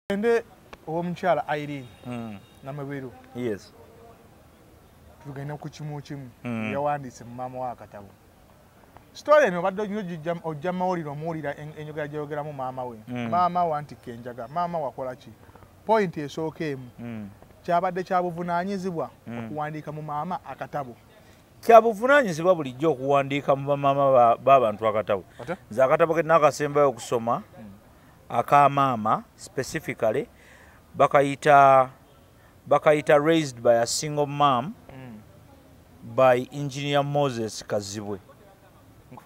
tugende owomukyala irene hmm. namubiru yes tugende ku kimu kimu hmm. yawandiise mu maama wa akatabo sitole eno obadde ojja mawulire omuwulira enyogera gyeyogeramu maama we hmm. maama wantikka enjaga maama wakola ki pointi esooka emu kyabadde kyabuvunanyizibwa okuwandiika mu maama akatabo kyabuvunanyizibwa bulijjo okuwandiika mu bamaama babantu akatabo nze akatabo ke nakasembayo okusoma hmm. akamaama specifically bakayita bakayita raised by a single mam mm. by engineer moses kazibwe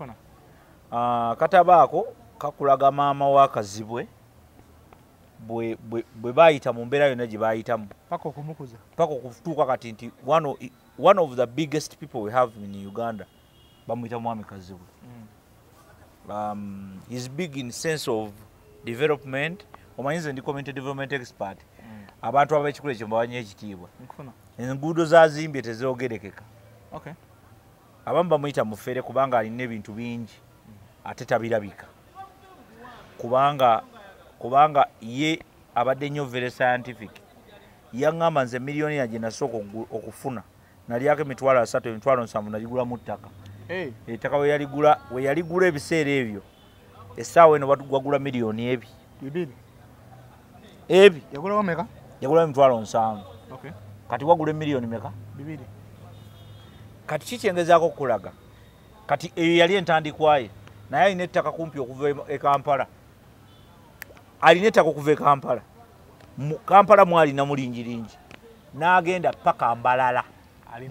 uh, kataba ako kakulaga maama wa kazibwe bwe bayita mu mbeera yonna gye bayitamu paka okutuuka kati nti wano one of the biggest people we have in uganda bamuyita mwami kazibwe mm. um, he's big in sense of development omanyi nze ndi community development expert mm. abantu abekikula ekyo mbawanyo ekitiibwa enguudo zazimbye tezogerekeka okay. abamu bamuyita mufere kubanga alina ebintu bingi mm. ate tabirabika kubanga kubanga ye abadde nnyo very scientific yaŋŋamba nze miliyoniya gye nasooka okufuna nalyako emitwalo asatu emitwalo nsanvu naligulamu ttaka ettaka weyaligula ebiseera ebyo essaawa eno wagula miliyoni ebi ebi yagulawo emitwalo nsanvu kati wagula emiliyoni meka kati kikyengezaako okukulaga kati eyo yali entandikwaye naye alina ettaka kumpi okuva e kampala alina ettaka okuva e kampala mu kampala mwali namulingiringi n'agenda paka mbalala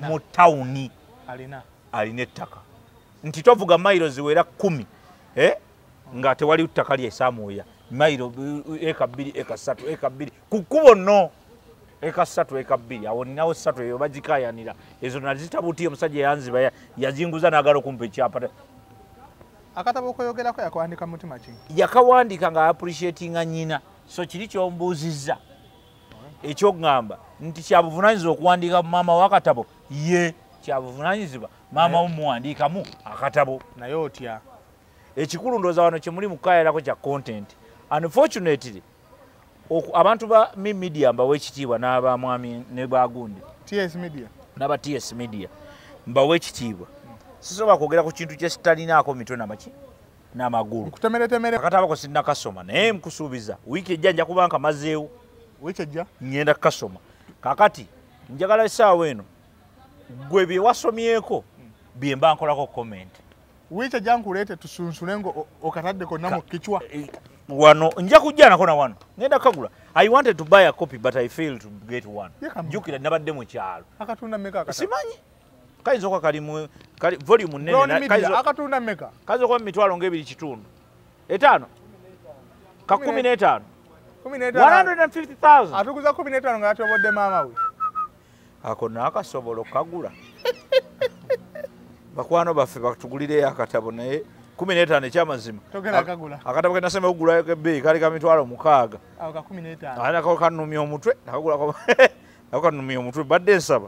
mu tawuni alina ettaka nti tovuga mailo ziwera kumi eh? nga tewali ttaka lyesamwoya mailo eh, eka bbiri eka ssatu eka bbiri ku kkubo no eka ssatu eka bbiri awo ninawo ssatu eyo bagikayanira ezo nazitabuti omusajja yanziba yazinguza nagala okumpa ekyapa akatabo okoyogerako yakawandika mutima ki yakawandika nga appreciatinga nyina so kiri kyombuuzizza ekyokugamba nti kyabuvunanyizibwa okuwandiika maama wakatabo ye kyabuvunanyizibwa maama omuwandiikamu akatabo naye otya ekikulu ndooza wano kyemuli mukukayalako kya content unfortunately abantu ba mi media mbawa ekitiibwa n'abamwami ne bagundi ts media n'aba ts media mbawa ekitiibwa sisobola kwogera ku kintu kyekitalinaako mitwe namaki namagulu nkutemeretemere akatabo ko sinna kasoma naye nkusuubiza wiiki ejja nja kuba nkamazeewo wiiki ejja ngenda kukasoma kakati njagala esaawa eno gwe byewasomyeko byemba nkolako comment wiiki ejja nkuleete tusunsule nga okatadde konna mu kicwa eh, wano nja kujja nako na wano ngenda kagula i wanted to buy a copy but i failed to get one jukira nabadde mu kyalo simanyi kayinza okuba kali mu kali volume nnene kayinza akatunda mmeka kayinza okuba mu mitwalo ng'ebiri kitundu etaano ka kumi n'etaano atuguza kumi n'etaano nga yatobodde maama we ako naakasobola okukagula bakwano baffe batugulireyo akatabo naye kumi n'etaano ekyamazima akatabo kenasema okugulayo kebbeeyi kali ka mitwalo mukaaga ako kanumya omutwe ako kanumya omutwe badde nsaba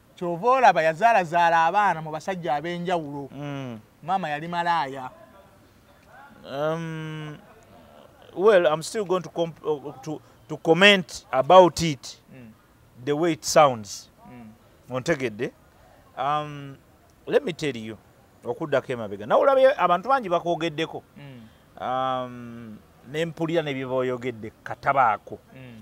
kyova olaba yazaalazaala abaana mu basajja ab'enjawulo mm. maama yali malaaya um, well im still going to, comp uh, to, to comment about it mm. the way it sounds mm. ontegedde um, let me tell you okuddako emabega nawe olabye abantu bangi bakwogeddeko mm. um, nempulira nebyeboyogedde katabaako mm.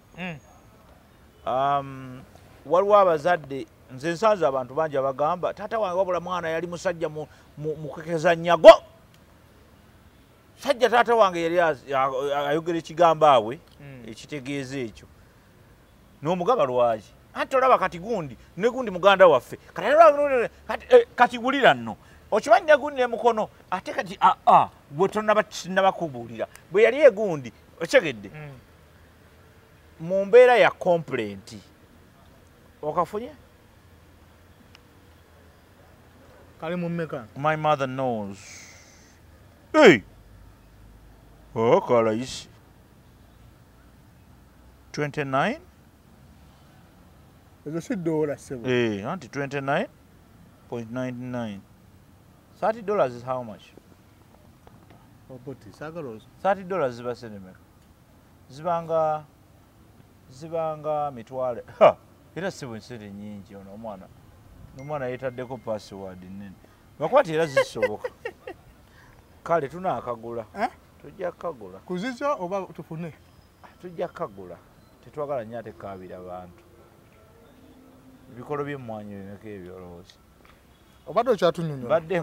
hmm. um, waliwo abazadde nze nsanze abantu bangi abagamba taata wange wabula mwana yali musajja mukekeza nyago sajja taata wange yali ayogera ekigambo awe hmm. ekitegeeza ekyo nomugaba lwaki anti olaba kati gundi negundi muganda waffe kati eh, wulira nno okimanyi negundi nemukono ate kati aa ah, ah, gwe tonabakubuulira bwe yali egundi okyegedde hmm. mu mbeera ya kompulenti okafunye kali mumeka my mother knows hey! oh, kalayisi 29 ezo si dola sebo hey, eh, anti 29.99 30 dollars is how much Obuti sagala ozo. 30 dollars ziba senemeka. Zibanga zibanga mitwale. Ha. Era sibu nsiri nyingi ono omwana. Omwana yetaddeko password nene. Bakwati era zisoboka. Kale tuna akagula. Eh? Tujja kagula. Kuzizo oba tufune. Tujja kagula. Tetwagala nyate kabira bantu. Bikolo byemwanyi bimeka ebyo olowooza. obadde okyatunyonyo badde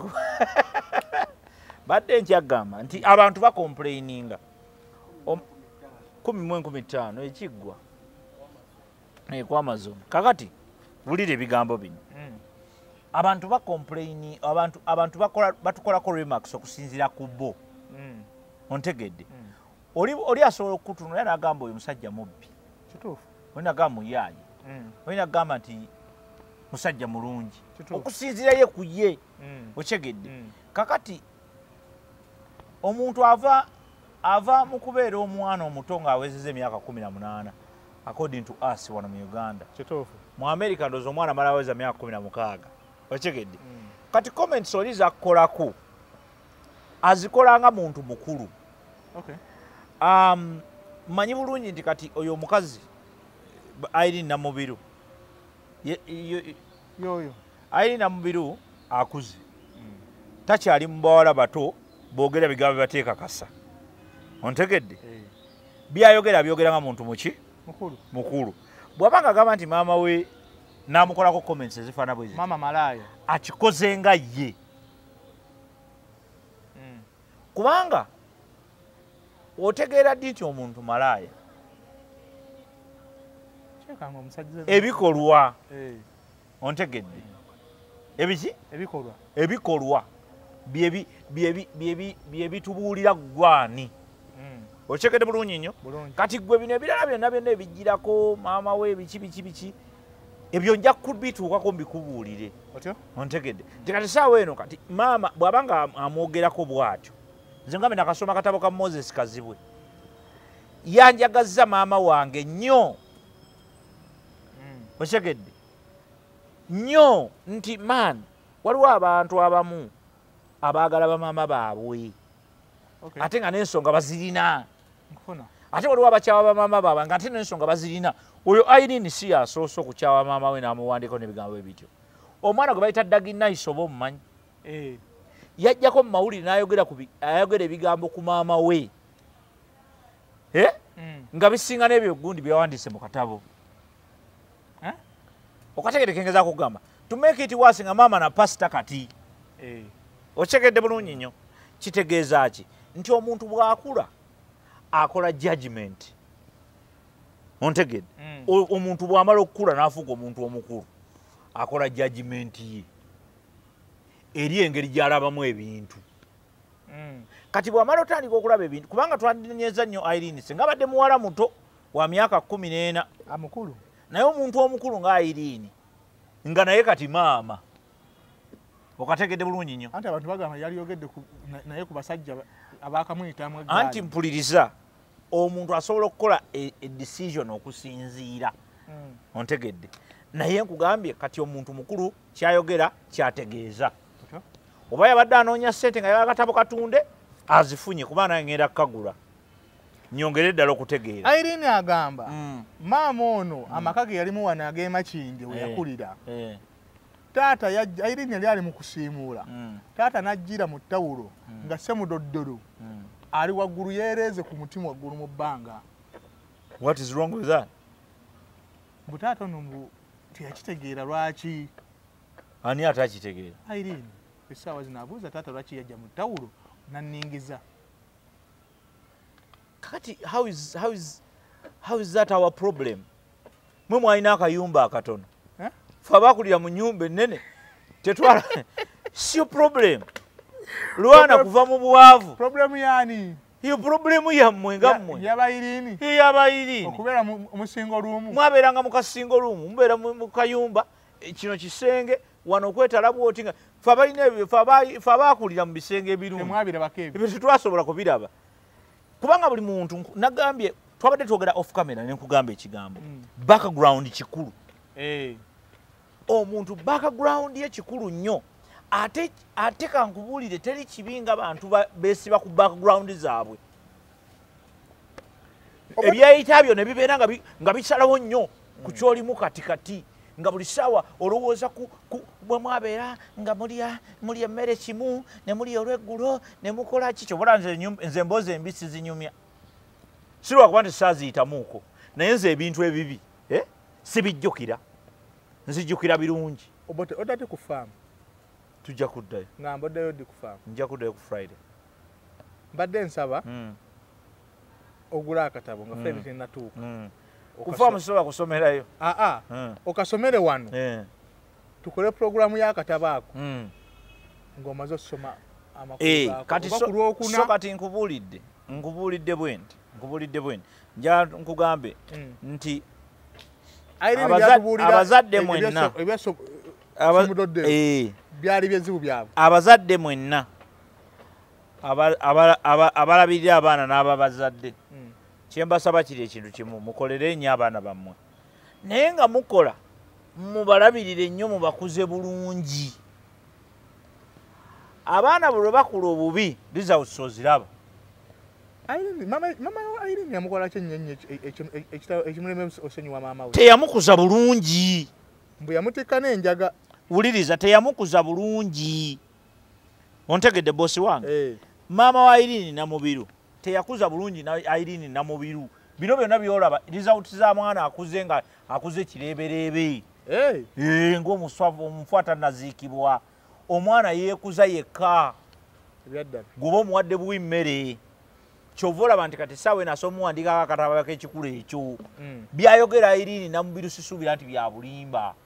badde nkyagamba nti abantu bakomplaininga kumi mu enkumi ttaano ekiggwa ekwamazon kakati wulira ebigambo bino hmm. abantu bakomplaini abantu batukolako remax okusinzira ku bo hmm. ontegedde hmm. oli oli asobola okukutunula era nagamba oyo musajja mubbi kituufu oli nagamba muyaaye mm. oli nagamba nti musajja mulungi okusinziraye ku ye mm. okyegedde mm. kakati omuntu ava ava mu kubeera omwana omuto ng'awezeza emyaka kumi na munaana according to us wano mu uganda kituufu mu america ndooza omwana amala aweza myaka kumi na mukaaga okyegedde kati comments oli zakukolaku azikola nga muntu mukulu okay. um, manyi bulungi nti kati oyo omukazi airi namubiru yoyo airi namubiru akuze mm. takyali mubawala bato bogera bigambo bibateekakasa ontegedde hey. Eh. byayogera byogera nga muntu muki mukulu, mukulu. bwaba nga agamba nti maama we namukolako comments ezifaana bwezi akikoze nga ye hmm. kubanga otegeera ddi nti omuntu malaaya ebikolwa eh. ontegedde ebiki ebikolwa ebikolwa byebitubuulira ggwani hmm. okyekede bulungi nnyo kati gwe bino ebirala byonna byonna ebijjirako maama we biki biki biki ebyo nja kubituukako mbikubuulire ontegedde nti kati saawa eno kati maama bw'aba nga amwogerako bw'atyo nze ngambe nakasoma katabo ka moses kazibwe yanjagazza maama wange nnyo hmm. otegedde nnyo nti man waliwo abantu abamu abaagala bamaama baabwe ate nga n'ensonga bazirina ate waliwo abakyawa bamaama baabwe nga ate n'ensonga bazirina oyo irene si yasoose okukyawa maama we n'amuwandiiko n'ebigambo bye bityo omwana gwe bayita daginais oba omumanyi eh. yajjako mu mawulire n'ayogera ebigambo ku maama we eh? hmm. nga bisinga n'ebyo gundi byeyawandiise mu katabo eh? okategede kengeza kugamba to make it worse nga maama na pasita kati eh. okitegedde bulungi nnyo kitegeeza ki nti omuntu bwakula akola judgment ontegede mm. omuntu bwamala okukula nafuuka omuntu omukulu akola judgment ye eri engeri gyalabamu ebintu mm. kati bwamala otandika okulaba ebintu kubanga twandinyeza nnyo irene singa abadde muwala muto wa myaka kumi n'ena amukulu naye omuntu omukulu nga ayiriini nga naye kati maama okategedde bulungi nnyo anti abantu bagamba yali yogedde naye ku basajja abakamuyitamu anti mpuliriza omuntu asobola okukola edecision e okusinziira hmm. ontegedde naye nkugambye kati omuntu mukulu kyayogera kyategeeza oba yabadde anoonya ssente nga yagakatabo katunde azifunye kuba naye ngenda kukagula nyongere ddala okutegeera irene agamba mm. maama ono mm. amaka ge yalimu wano ag'emakindi we eh, yakulira eh. taata irene yali ali mu kusiimuula mm. taata n'ajjira mu ttawulo nga semudoddolo ali waggulu yeereeze ku mutima waggulu mu bbanga what is wrong with that mbu taata ono mbu teyakitegeera lwaki ani ate akitegeera irene essaawa zino abuuza taata lwaki yajja mu ttawulo nanningiza kakati how is, how is, how is that our problem mwe mwalina akayumba akatono eh? fe abakulira mu nyumba enene tetwala sio problem lwana kuva mu bwavu problemu yani iyo problemu yammwe nga mmwe yabayirini yabayirini okubeera musingo lumu mwabeeranga mu kasingo lumu mubeera mu kayumba ya kino kisenge wano okwetala bwoti nga fe abalina ebyo fe abaakulira mu bisenge ebirungitetwasobola kubiraba kubanga buli muntu nagambye twabadde twogera off camera ne nkugamba ekigambo mm. background kikulu eh. omuntu background ye kikulu nnyo ate kankubuulire teri kibi nga bantu besiba ku background zaabwe ebyeyita byo ne bibeera nga bisalawo nnyo ku kyolimu kati kati nga buli ssaawa olowooza bwe mwabeera nga mulya mulya emmere kimu ne mulya olweggulo ne mukola ki kyobola nze emboozi embi sizinyumya sirwakuba nti saaziyitamuuko naye nze ebintu ebibi eh, sibijjukira nzijjukira birungi obote odate ku faamu tujja kuddayo nga mbaddeyo ddi ku faamu nja kuddayo ku friday mbadde nsaba hmm. ogula akatabo nga fene hmm. tenatuuka hmm. kufa musobola kusomerayo aa ah, ah. okasomere wano eh. tukole pulogulaamu y'akatabo ako ng'omaze okusoma amakuluakoso eh, kati nkubuulidde nkubuulidde bwendi nkubuulidde bwendi nja nkugambe nti abazadde mwenna byali byezibu byabwe abazadde mwenna abalabirira abaana n'ababazadde hmm. kyembasaba kiri ekintu kimu mukolere nnyo abaana bammwe naye nga mukola mubalabirire nnyo mubakuze bulungi abaana bwe lwebakula obubi results oziraba teyamukuza bulungi mbu yamutikka n'enjaga wuliriza teyamukuza bulungi ontegedde bosi wange eh. maama wa irini namubiru teyakuza bulungi irini namubiru bino byonna byolaba result za mwana akuze nga akuze kireebereebe eh. eh, ngaomuswavu omufu atanaziikibwa omwana yeekuza yekka goba omuwadde buwi mmere kyova olaba nti kati saawa enaso omuwandikako akatababako ekikulu ekyo hmm. byayogera irini namubiru sisuubira nti byabulimba mm.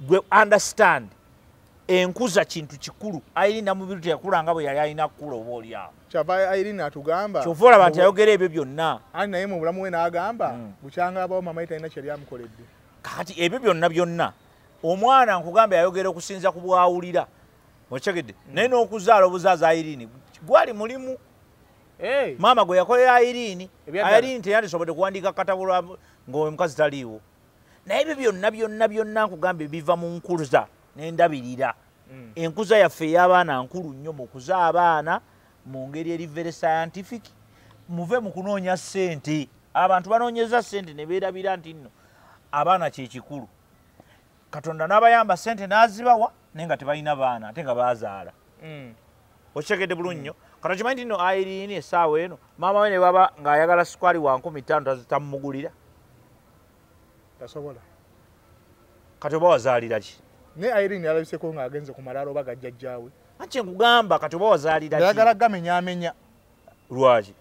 gwe understand enkuza kintu kikulu irina mubiru teyakula nga bwe yali alina kukula oba olyawo kyava irina atugamba kyova olaba nti ayogera ebyo byonna ani naye mu bulamu we n'agamba hmm. bukyanga abawo mama ye talina kyeyali amukoledde kati ebyo byonna byonna omwana nkugamba yayogera okusinza ku bwawulira okitegedde hmm. naye n'okuzaala obuzaaza irini gwali mulimu maama gwe yakolera irini irini teyandisobodde kuwandiika katabulo ng'omukazi taliiwo naye ebyo byonna byonna byonna nkugambye biva mu nkuza nendabirira mm. enkuza yaffe ey'abaana nkulu nnyo mu kuza abaana mu ngeri eri very scientific muve mu kunoonya ssente abantu banoonyeza ssente ne beerabira nti nno abaana kyekikulu katonda n'abayamba sente n'azibawa naye nga tebalina baana ate nga bazaala mm. okitegedde bulungi nnyo mm. kano kimanyi nti no airiini esaawa eno maama we ne baba ng'ayagala sukaali wa nkumi ttaano tamumugulira tasobola kati oba wazaalira ki naye airiini alabiseko ng'agenze ku malaalo oba gajjajjaawe anti nkugamba kati oba wazaalira ki ayagala gamenyaamenya lwaki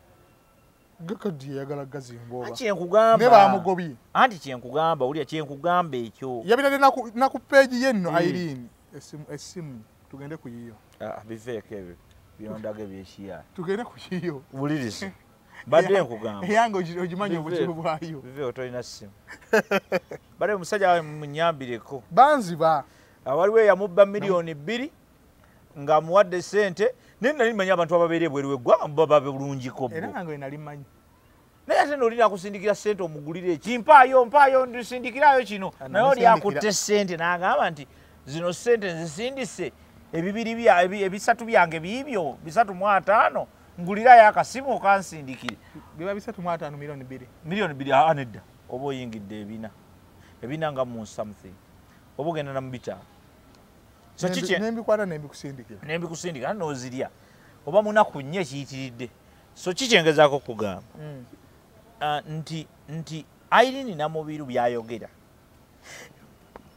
gakadi yayagala gazimbooba anti kyenkugamba ne bamugobye anti kyenkugamba wulira kyenkugamba ekyo yabirade na ku peegi ye nno hmm. ayirini esimu esimu tugende ku yiyo ah, biveeko ebyo byondaga ebyekiya tugende ku yiyo wuliriza badde nkugamba eyange ogimanyi obuzibu bwayo biveeko tolina simu bade omusajja wawe munyambireko banziba awaliwo eyamubba miliyoni bbiri nga amuwadde sente naye nali manyi abantu ababeera ebweru weggwanga baba bulungiko era nange wenali manyi naye ate noli nakusindikira sente omugulire eki mpaayo mpaayo ndisindikirayo kino ah, naye oli akutte sente nagamba nti zino sente nzisindise ebibiri ebisatu byange biibyo bisatu mu ataano ngulirayo akasimu okansindikire biba bisatu mu ataano milioni bbiri milioni bbiri aa ah, nedda oba oyingidde ebina ebina nga mu something oba ogenda na mubitaano nembikwata nembikusindikira nembikusindikira nozirya oba munaku nnyo ekiyitiridde so ki kyengezako okugamba mm. ah, nti nti irini namubiru byayogera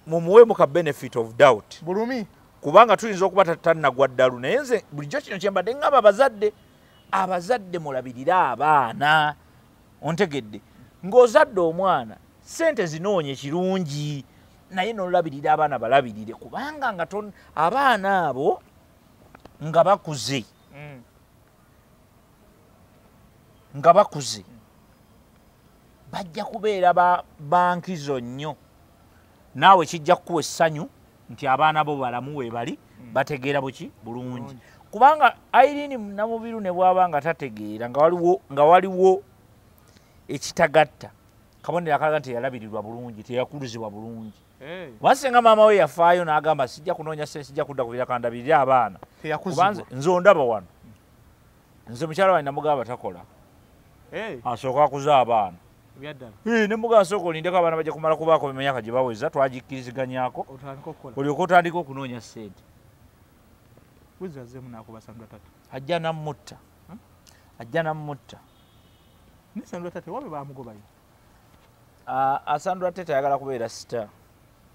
mumuwemu ka benefit of doubt bulumi kubanga tuyinza okuba tatanagwa ddalu naye nze bulijjo kino kyembadde ngaba abazadde abazadde mulabirire abaana ontegedde ng'ozadde omwana sente zinoonya kirungi naye nolabirira abaana balabirire kubanga nga abaana abo nga bakuze mm. nga bakuze bajja kubeera ba bankizo nnyo naawe kijja kukuwa essanyu nti abaana bo balamu webali mm. bategeera buki bulungi kubanga airini namubiru ne bwaba nga tategeera nga waliwo ekitagatta kabonero akalaga nti yalabirirwa bulungi teyakuluzibwa bulungi eh. wasinga maama we yafaayo n'agamba sijja kunoonya sente sijja kudda kubirakandabirire abaana nze ondaba wano nze mukyala wange namugamba takola eh. asooka akuza abaana ne muga asooka olindeko abaana bajja kumala kubaako bemyaka gye baweza twagikkiriziganyako olyoka otandika okunoonya sente ajja namutta ajja namutta Nisandula tate wabe bamugobayo. Ah, asandula tate ayagala kubeera star.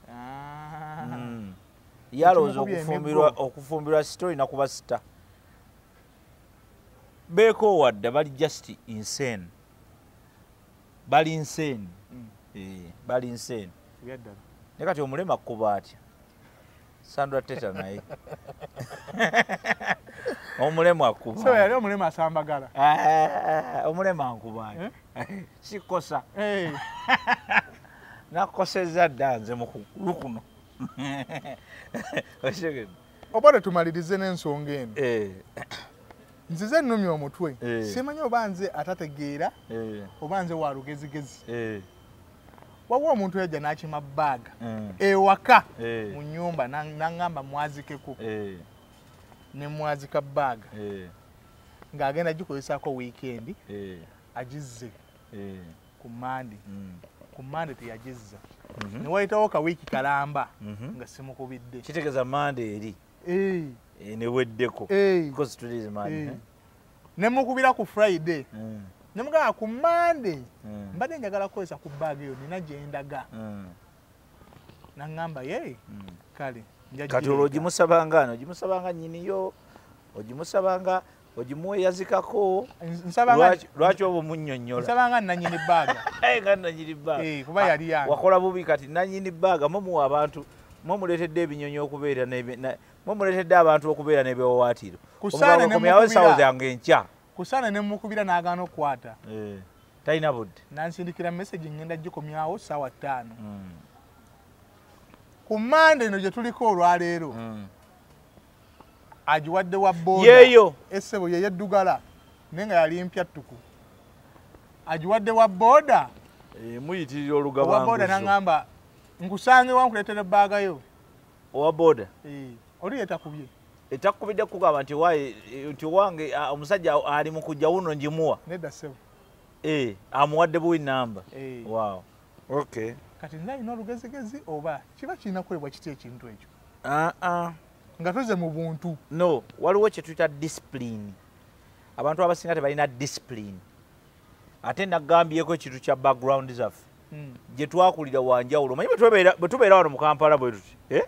Ah. Mm. Yaloza okufumbirwa okufumbirwa story na kuba star. Beko wadda bali just insane. Bali insane. Mm. Eh, bali insane. Yadda. Ne kati omulema kuba atya. Sandra Teta naye. Omulema kuba. So yali omulema asambagala. Eh, omulema nkuba. Eh? Sikosa. Eh. Nakoseza danze mu kuno. Oshege. Obale tumalirize n'ensonga eno. Eh. Nzize nnumya omutwe. Eh. Simanyi oba nze atategeera. Eh. Oba nze wa lugezigezi. Eh. waliwo omuntu yajja n'akima baaga mm. ewaka eh. mu nyumba naŋŋamba mwazikeko eh. ne mwazika baaga eh. ng'agenda gikozesaako wiikendi agizze ku mande mm. ku mande teyagizza mhm. ne wayitawo ka wiiki kalamba mhm. nga simukubidde kitegeeza mande eri neweddeko ne mukubira ku friday mm. ne mugamba ku monday mm. mbadde njagala kukozesa ku bag eyo nina gyendaga mm. nangamba ye mm. kale kati olwo ogimusabanga ano ogimusabanga nyiniyo ogimusabanga ogimuweyazikako lwaki oba omunyonyolasabanga nanyini baaga nga nanyini baaga eh, kuba ah, yali yange wakola bubi kati nanyini baaga mumuwa abantu mumuleetedde ebinyonyi okubeera mwe muletedde abantu okubeera nebiwawaatiro omukaokomyawesawo zange enkya kusaana ne mukubira n'agaana okukwata eh, talina budde nansindikira message ngenda gikomyawo saawa ttaano hmm. ku mande eno gye tuliko olwaleero hmm. agiwadde wa bodayeyo esebo yeyo eddugala naye nga yali mpya ttuku agiwadde wa boda eh, muyitirira olugababoda nangamba nkusange wankuleetera ebbagayo owa boda eh, oli etakubye etakubidde kugamba nti nti owange omusajja ali mu kujja wuno ngimuwa nedda sebo eh, amuwadde buwi namba eh. wow okay kati nina alina olugezigezi oba kiba kirina kuwebwa kiti ekintu ekyo ah, ah. nga tuze mu buntu no waliwo kyetuyita disipulini abantu abasinga tebalina disipulini ate nagambyeko ekintu kya background zaffe hmm. gye twakulira wanjawulo manyi bwe tubeera wano mu kampala bwe tuti eh?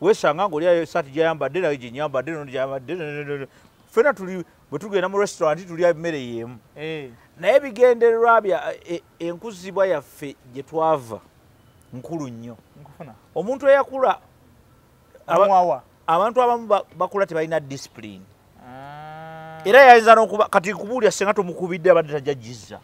wesanga ngaoli ayo esaati gyayambadde nayo gyenyambadde nogyambadde fena tuli bwe tugenda mu restaurant tulya emmere y'emu eh. naye bigendererwa bya e, e, enkuzibwa yaffe gye twava nkulu nnyo omuntu eyakula abantu abamu bakula tebalina discipline ah. era yayinza nokuba kati kubuulira senga tomukubidde abadde tajja jizza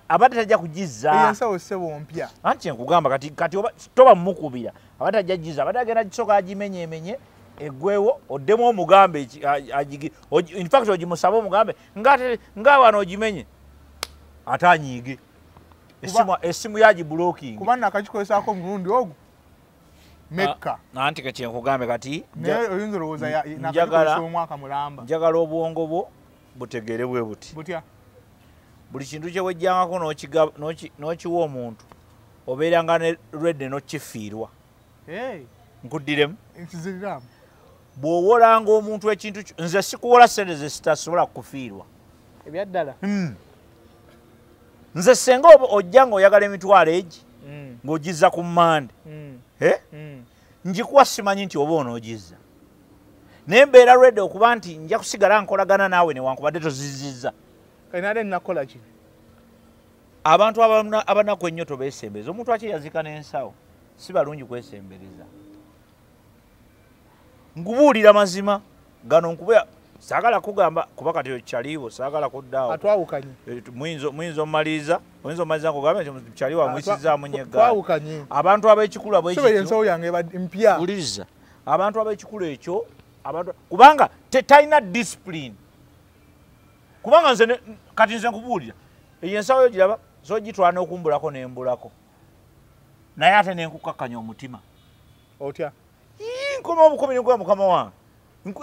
abadde tajja kugizzaensawo sebo mpya anti enkugamba kati kati toba mumukubira abadde tajja jizza abadde agenda kisooka agimenyemenye egwewo oddemu omugambe infact ogimusabe omugambe nga wano ogimenye ate anyiige esimu yagibulokingi kuba nakakikolesaako omulundi ogwo mekka ah, anti kekyenkugambe kati njagala obwongo bwo butegeere bwe buti buli kintu kyewejjangako n'okiwa omuntu obeeranga ne rede n'okifiirwa nkuddiremu bw'owolanga omuntu ekintu nze sikuwola sente ze sitasobola kukufiirwa ebyaddala hmm. nze senga oba ojja nga oyagala emitwalo egi mm. ng'ogizza ku mande mm. eh? mm. njikuwa simanyi nti oba onoogizza naye mbeera redi okuba nti nja kusigala nkolagana naawe newankubadde tozizizza enale nakola ki abantu abanaku ennyo tobesembereza omuntu akye yazika n'ensawo si balungi kwesembereza nkubuulira mazima gano nkuba sagala kugamba kuba kati kyaliwo sagala kuddaawo atwawukanye eh, muyinza omaliriza oyinza omaliriza nkugambe nti kyaliwo amuyisizaamu ah, nyegawawukanye abantu ab'ekikulu ab'ensawo yange mpya uliriza abantu ab'ekikulu ekyo abantu kubanga tetalina discipline kubanga nze kati nze nkubuulira eyo ensawo yo giraba zogitwala n'okumbulako nembulako naye ate nenkukakkanya omutima otya yii nkoma obukomi nikuba mukama wange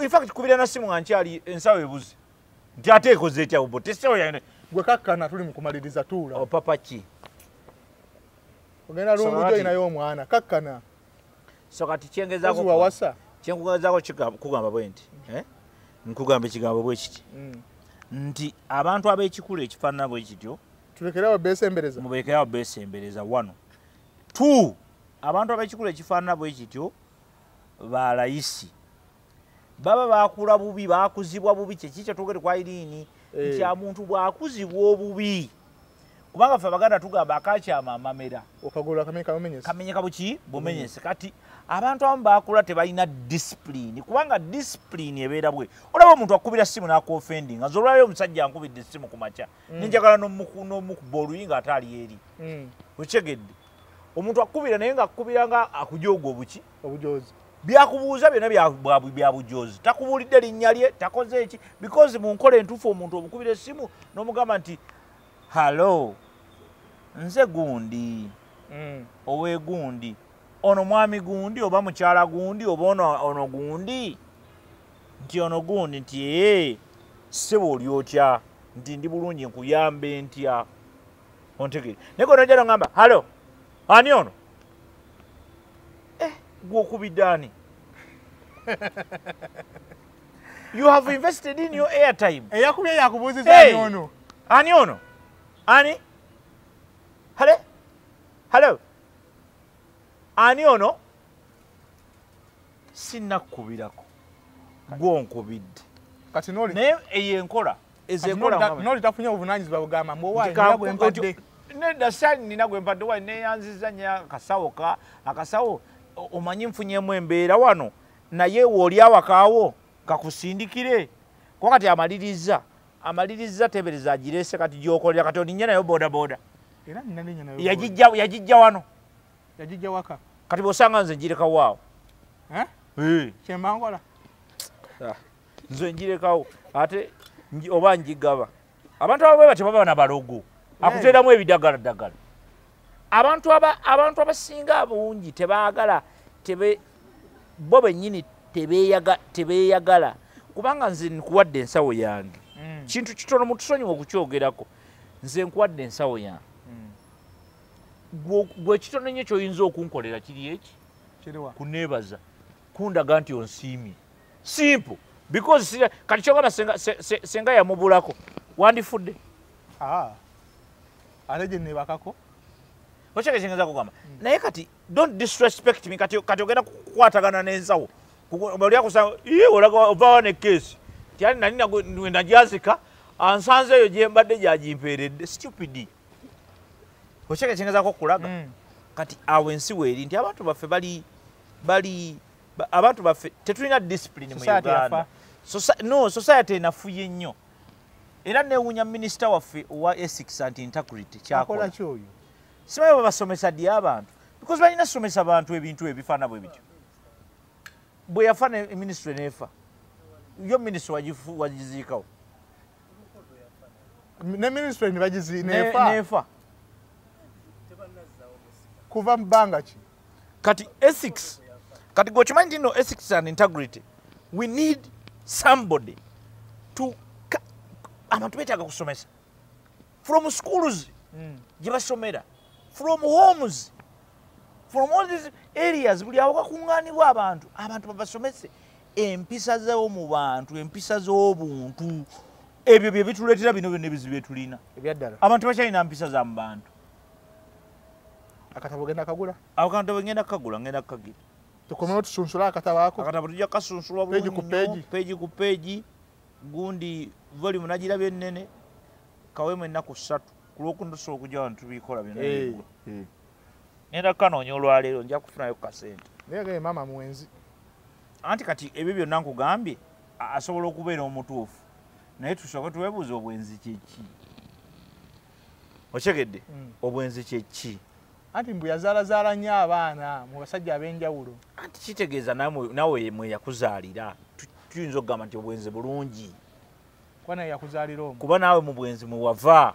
infact kubira na simu nga nkyali ensawo ebuzi nti ate ekoze etya bubo tesawo yane gwe kakkana tuli mukumaliriza tuula opapa oh, ki ogenda lungujo inayo omwana kakkana so kati kyengezako wawasa kyenkugezako kugamba bwe nti eh? nkugamba ekigambo bwe kiti mm. nti abantu ab'ekikulu ekifaanana bwe kityo tulekerewo beesembereza mubeekerewo beesembereza wano t abantu abekikulu ekifaanana bwe kityo ba layisi baba bakula bubi bakuzibwa bubi kyeki kyetwogere kwa iriini eh. nti amuntu bwakuzibwa obubi kubanga fe abaganda tugamba akakyama amamera kamenyeka buki bumenyese mm. kati abantu abamu bakula tebalina disipulini kubanga disipulini ebeera bwe olaba omuntu akubira simu nakuofendi nga zolwaliro omusajja ankubidde esimu ku makya mm. nenjagala nomukuba oluyi nga ate ali eri mm. okitegedde omuntu akukubira naye nga akukubira nga akujooga obuki obujozi byakubuuza byona byabujozi takubuulidde linnya lye takoze eki because mu nkola entuufu omuntu omukubira essimu n'omugamba nti hallo nze gundi mm. owegundi ono mwami gundi oba mukyala gundi oba ono gundi nti ono gundi nti ee ssebo oli otya nti ndi bulungi nkuyambe ntya ontegere naye gona ojala ngamba halo ani ono eh, gwokubidde ani you have invested in your airtime eyakubye yakubuuziza hey, ani ono ani ono ani hale halo ani ono sinakubirako gwonkubidde kati noli naye eyo enkola ezekola noli tafunye obuvunanyizibwa bugamba mbu owaye nina gwempadde nedda sani nina gwempadde owaye neyanziza nya akasawo ka akasawo omanyi nfunyemu embeera wano naye wooli awakaawo kakusindikire kuba kati amaliriza amaliriza tebereza agirese kati gyokolera kati olinye nayo bodaboda yagijja wano yagijja waka kati bwosanga nze njirekawo awo eh? eh. kyemba nkola ah, nze njirekawo ate oba njigaba abantu abo bwebati baba na balogo eh. akuteeramu ebidagala ddagala abantu abantu abasinga abungi tebaagala tebe bo bennyini tebeeyagala kubanga nze nkuwadde ensawo yange mm. kintu kitono mutusonyiwa okukyogerako nze nkuwadde ensawo yange gwe ekitono nnyo kyoyinza okunkolera kiri eki kuneebaza kundaga nti onsiimye simple because sira kati kyogamba senga, se, se, senga yamubulako wandifudde ah. ate gye nebakako okyekekyengeza kugamba mm. naye kati don't disrespect me kati, kati ogenda kukwatagana n'ensawo olyakusa olaga ovawa ne keesi tyali nali najazika ansanze eyo gyembadde gyagimpeeredde stupidi okyeka kyengezako okulaga mm. kati awo ensi weeri nti abantu baffe bali bali abantu baffe tetulina discipline mu uganda no society enafuye nnyo era newunya minisita waffe owa esix and integrity kyakola kyoyo sibayo babasomesa ddi abantu because balina somesa bantu ebintu ebifaana bwe bityo bwe yafa ne ministry neefa yo ministry wagiziikawo ne ministry nebagizi nefa nefa kuva mbanga ki kati ethics kati gochimanyi nti no ethics and integrity we need somebody to abantu betaga kusomesa from schools mm. jibasomera from homes from all these areas buli awo kakuŋŋaanibwa abantu abantu babasomese empisa zawo mu bantu empisa z'obuntu ebyo bye bituleetera bino byonna ebizibu byetulina ebyaddala abantu bakyalina mpisa za mu bantu akatabo genda kagula ako katabo ngenda kukagula ngenda kukagira tukomewo tusunsule akatabo ako akatabo tujja kukasunsulwa bulungi nnyo peegi ku peegi gundi volume nagiraba ennene kawemu ennaku ssatu ku lwokuna tusobola okujja wano tubikola byonna eh, eh. ngenda kukanoonya olwaleero nja kufunayo kukasente naye maama mwenzi anti kati ebyo byonna nkugambye asobola okubeera omutuufu naye tusooke twebuuza obwenzi kyeki okyegedde mm. obwenzi kyeki anti mbu yazaalazaala nnyo abaana mu basajja ab'enjawulo anti kitegeeza nawe mwe yakuzaalira tuyinza okugamba nti obwenzi bulungi kuba nawe yakuzaalira omu kuba naawe mu bwenzi mwe wava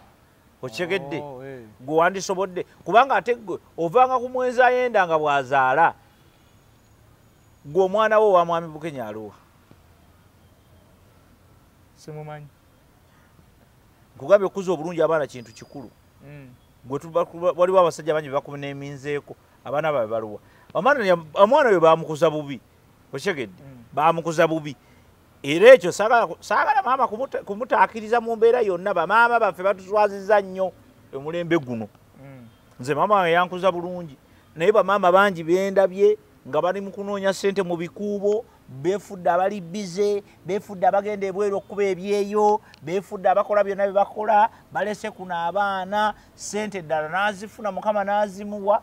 okitegedde oh, eh. gwe wandisobodde kubanga ate gwe ovanga ku mwenzi ayenda nga bwazaala gwe omwana wo wamwami bukenya aluwa simumanyi nkugambye okukuza obulungi abaana kintu kikulu mm. waliwo abasajja bangi bebakuneminzeeko abaana babe baluwa omwana oyo bamukuza bubi okitegedde mm. bamukuza bubi era ekyo saagala maama kumutaakiriza mu mbeera yonna bamaama baffe batuswaziza nnyo omulembe guno mm. nze maama we yankuza bulungi naye bamaama bangi bendabye nga bali mu kunoonya ssente mu bikuubo befudde abali bize befudde abagenda ebweru okukuba ebyeyo befudde abakola byonna byebakola balese kuno abaana sente ddala nazifuna mukama nazimuwa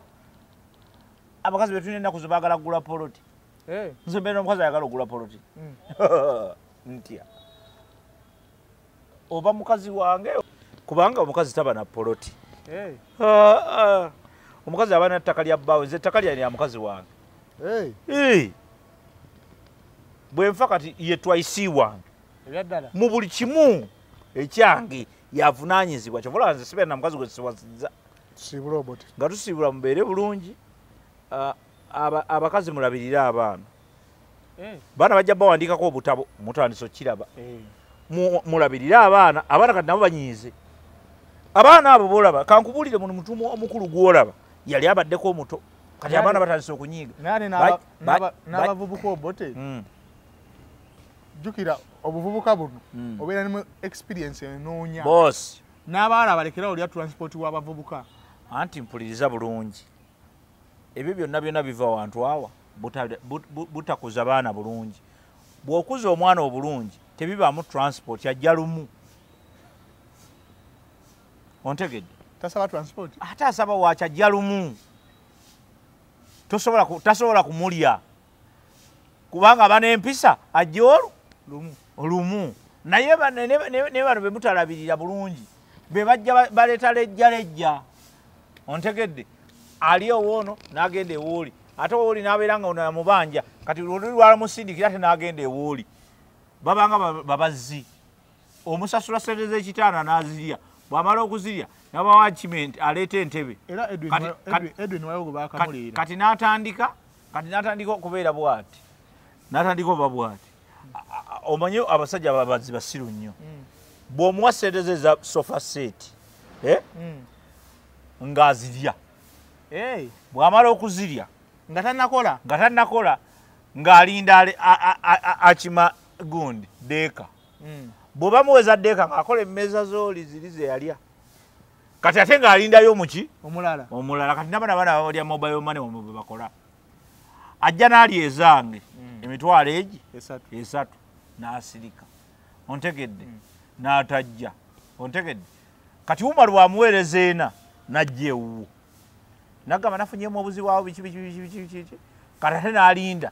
abakazi betulina enaku zebagala kugula poloti Eh. nze mbeera omukazi ayagala okugula poloti mm. ntya oba mukazi wange kubanga omukazi taba na poloti eh. ah, ah. omukazi aba na ttaka lya bbaawe nze ettaka lyani lya mukazi wange eh. bwenfa kati ye twaisi wange mu buli kimu ekyange yavunanyizibwa kyova olaba nze sibeera na mukazi gwe siwasiza nga tusiibula mubeere bulungi ah, abakazi mulabirire abaana eh. baana bajja bawandiikako obutabo mutandisa okukiraba eh. mulabirire abaana abaana kati nabo banyiize abaana abo bolaba kankubuulire muno mutumu omukulu gwolaba yali abaddeko omuto kati abaana batandise okunyiiga n'abavubuka obote hmm. jjukira obuvubuka buno hmm. obeera nemu experience enoonya n'abaala balekerawo lya transport w'abavubuka anti mpuliriza bulungi ebyo byonna byonna biva wantu awa butakuza baana bulungi bw'okuza omwana obulungi tebibaamu transport ajja lumu ontegedde tasaba transport ate asaba waaki ajja lumu tasobola kumulya kubanga bana empisa ajja olu olumu naye naye bano bemutalabirira bulungi be bajja baleeta lejja lejja ontegedde ali owoono n'agenda ewooli ate owooli n'abeera nga ono yamubanja kati luli lwalamusindikira ate n'agenda ewooli babanga babazzi omusasula sente z'ekitaana n'azirya bwamala okuzirya nabawa kiment aleeta entebe kati n'atandika kati natandika okubeera bwati natandika oba bwati omanyi abasajja ababazi basiru nnyo mm. bwomuwa sente ze za sofa seti eh? mm. ngaazirya bwamala okuzirya nga tanakola nga tanakola ng'alinda akima gundi deeka mm. bwebamuweza deeka ng'akola emmeeza zooli ziri zeyalya kati ate nga alindayo muki omulala omulala kati nabana bana babalya mobile money omwe bwe bakola ajja nali ezange mm. emitwalo egi esatu esatu nasirika ontegedde mm. natajja ontegedde kati umaru wamuweereza ena najja ewuwo nagamba nafunyemu obuzibu awo biki biki biki biki biki kati ate nalinda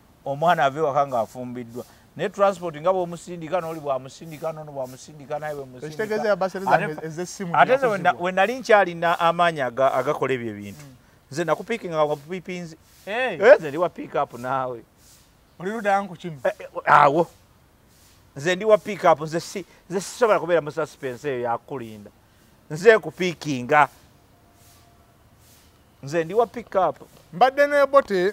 omwana ave waka nga afumbiddwa naye transport nga bwomusindika noli bwamusindika nono bwamusindika naye bwemusindiate wenali nkyalina amaanyi agakola ebyo ebintu mm. nze nakupikinga wapipinzi eh, nze ndi wa pick up naawe olirudankukimu eh, eh, awo nze ndi wa pick up nze sisobola kubeera mu suspense eyo yakulinda nze kupikinga nze ndiwa pickup mbadde nebote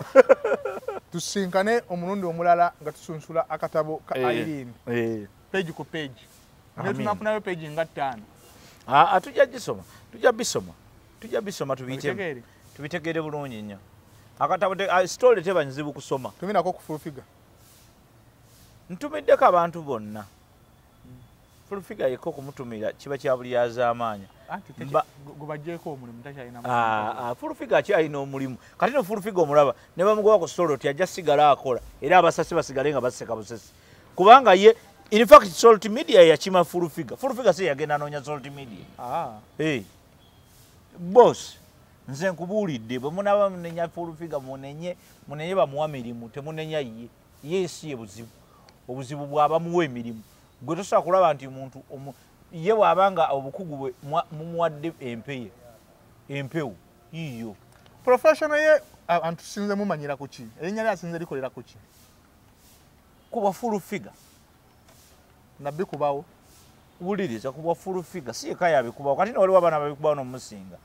tusinkane omulundi omulala nga tusunsula akatabo ka eh, irene eh. page ku page naye tunafunayo page nga ttaano aa ah, ah, tujja gisoma tujja bisoma tujja bisoma tubiyitemu tubitegeere bulungi nnyo akatabo ah, sitole teba nzibu kusoma tuminako kufulfiga ntumiddeko abantu bonna fulfiga yekka okumutumira kiba kya buli yazaamaanya fulfiga akyalina omulimu kati no fulfiga omulaba ne bamugoba ku soloti ajja sigala akola era abasasi basigale nga baseka busesi kubanga ye infact solti media yakima fulfiga fulfiga si yagenda anoonya solti media ah. eh. bos nze nkubuulidde bwe munaba munenya fulfiga munenye munenye bamuwa mirimu temunenya ye ye ensi ye buzibu obuzibu bwabamuwa emirimu gwe tosobola kulaba nti omuntu ye bwaba nga obukugu bwe mumuwadde empeye empewo yiyo professional ye antusinze mumanyira kuki erinnya lye asinze likolera kuki kuba full figure nabbi kubawo wuliriza kuba full figure si yeka yabikubawo kati nowaliwo abaana babikubawo nomusinga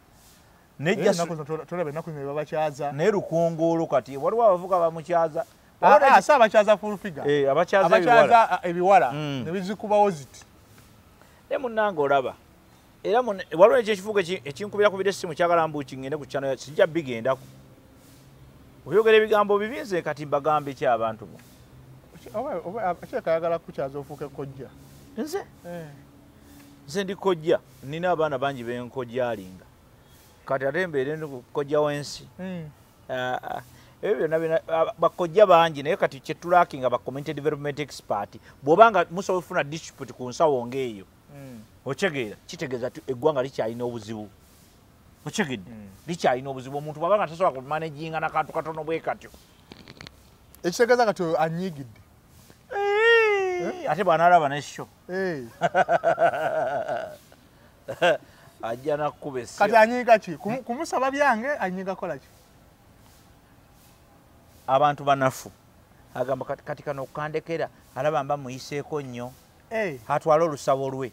naye lukunguulu kati waliwo abavuka bamukyaza ah, ah, si abakyaza fulfiga eh, abakyaza ah, ebiwala hmm. nebizikubawo ziti ne munange olaba era waliwo ekyo ekifuuka ekinkubira kubira essimu kyagala mbu kingende ku kyano kijja bigendako oyogera ebigambo bibi nze kati mbagambe ki abantu bo kyekayagala kukyaza ofuuke kojja nze eh. nze ndi kojja nina abaana bangi benkojaalinga kati ate mbeere kojja wensi hmm. ah, ah. ebyo byonna byona ah, bakojja bangi naye kati kyetulaki nga ba community development expert bwoba nga musobola ofuna district ku nsawo ngaeyo hmm. okyegeera kitegeeza ti eggwanga likyalina obuzibu okyegedde hmm. likyalina obuzibu omuntu bwaba nga tasobola kumanaginga nakantu katono bwe katyo ekitegeeza kati oyo anyiigidde eh, ate bwanalaba nesho eh. ajja nakukuba essimu kati anyiiga ki kumusaba byange anyiiga kola ki abantu banafu agamba kati kano okukandekera alaba mba muyiseeko nnyo eh. atwale olusabo lwe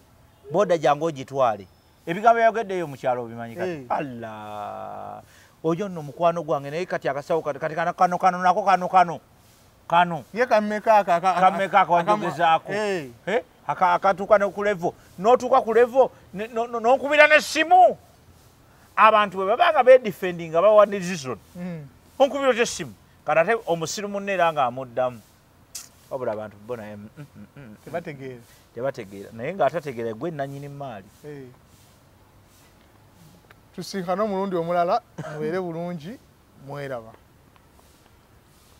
boda gyange ogitwale ebigambo byayogeddeyo mukyalo obimanyi kati eh. allah oyo nno mukwano gwange naye kati akasawo kati kano kano nako kano kano kano ye kameka ako kameka ako wanjogezaako eh. eh? akatuuka ne ku levo n'otuuka ku levo n'onkubira n'essimu abantu bwe baba nga bedifendi nga bawa decision hmm. onkubira otya essimu kati ate omusiru munne era nga amuddamu wabula abantu bo naye mm, mm, mm, tebategeera tebategeera naye nga atategeera gwe nanyini maali eh. tusinkana omulundi omulala mubeere bulungi mweraba